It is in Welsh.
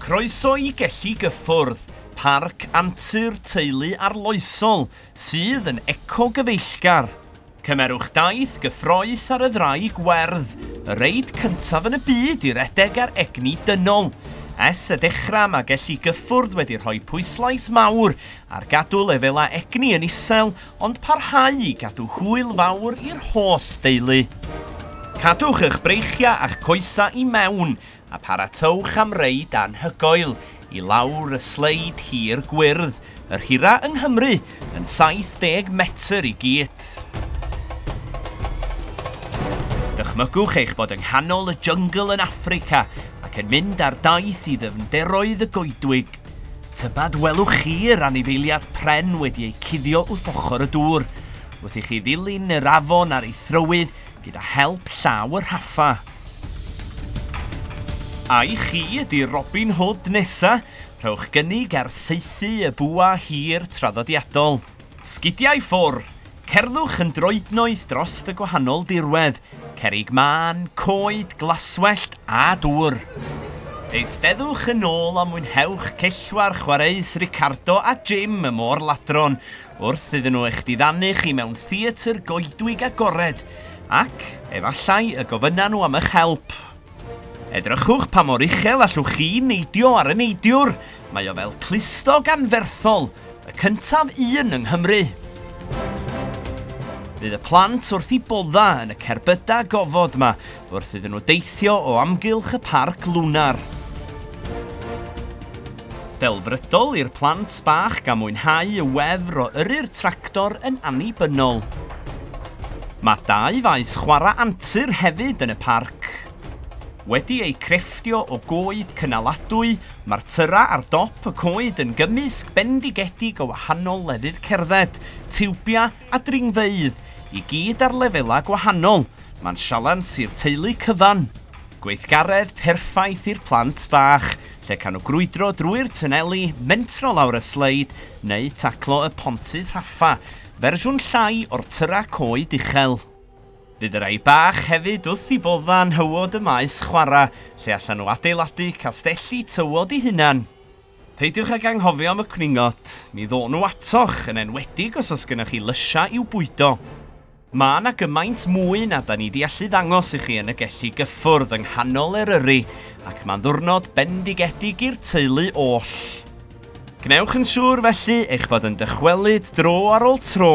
Croeso i Gelli Gyffwrdd, parc antur teulu arloesol sydd yn ecogyfeillgar. Cymerwch daith gyffrous ar y ddraig werdd, y reid cyntaf yn y byd i redeg ar egni dynol. Ers y dechrau mae Gelli Gyffwrdd wedi rhoi pwyslais mawr ar gadw lefelau egni yn isel ond parhau i gadw hwyl fawr i'r holl deulu. Cadwch eich breichiau a'ch coesau i mewn a pharatowch am reid anhygoel i lawr y sleid hir gwyrdd, yr hira yng Nghymru, yn 70 metr i gyd. Dychmygwch eich bod yng nghanol y jyngl yn Affrica ac yn mynd ar daith i ddyfnderoedd y goedwig. Tybed welwch chi'r anifeiliad pren wedi ei cuddio wrth ochr y dŵr, wrth i chi ddilyn yr afon ar ei thrywydd gyda help llaw y rhaffa. Ai chi ydi Robin Hood nesa? Rhowch gynnig ar saethu y bwa hir traddodiadol. Sgidia i ffwr! Cerddwch yn droednoeth drost y gwahanol dirwedd, cerrig mân, coed, glaswellt a dŵr. Eisteddwch yn ôl a mwynhewch cellwair chwareus Ricardo a Jim y môr-ladron wrth iddyn nhw eich diddanu chi mewn theatr goedwig agored, ac, efallai, y gofynna nhw am eich help. Edrychwch pa mor uchel allwch chi neidio ar y neidiwr, mae o fel clustog anferthol, y cyntaf un yng Nghymru. Bydd y plant wrth i bodda yn y cerbyda gofod ma, wrth iddyn nhw deithio o amgylch y parc lwnar. Delfrydol i'r plant bach gan mwynhau y wefr o yrru'r tractor yn annibynnol. Mae dau faes chwarae antur hefyd yn y parc. Wedi eu crefftio o goed cynaladwy, mae'r tyrra ar dop y coed yn gymysg bendigedig o wahanol lefydd cerdded, tiwbiau a dringfeydd, i gyd ar lefelau gwahanol, mae'n sialens i'r teulu cyfan. Gweithgaredd perffaith i'r plant bach, lle can nhw grwydro drwy'r twneli, mentro lawr y sleid, neu taclo y pontydd rhaffa, fersiwn llai o'r tyrra coed uchel. Bydd y rhai bach hefyd wrth i bodda nhywod y maes chwarae, lle allan nhw adeiladu castelli tywod i hunan. Peidiwch ag anghofio am y cwningod, mi ddo'n nhw atoch, yn enwedig os oes gennych chi lysiau i'w bwydo. Mae yna gymaint mwy na da ni di allu ddangos i chi yn y gelli gyffwrdd yng nghanol Eryri ac mae'n ddwrnod bendigedig i'r teulu oll. Gwnewch yn siŵr felly eich bod yn dychwelyd dro ar ôl tro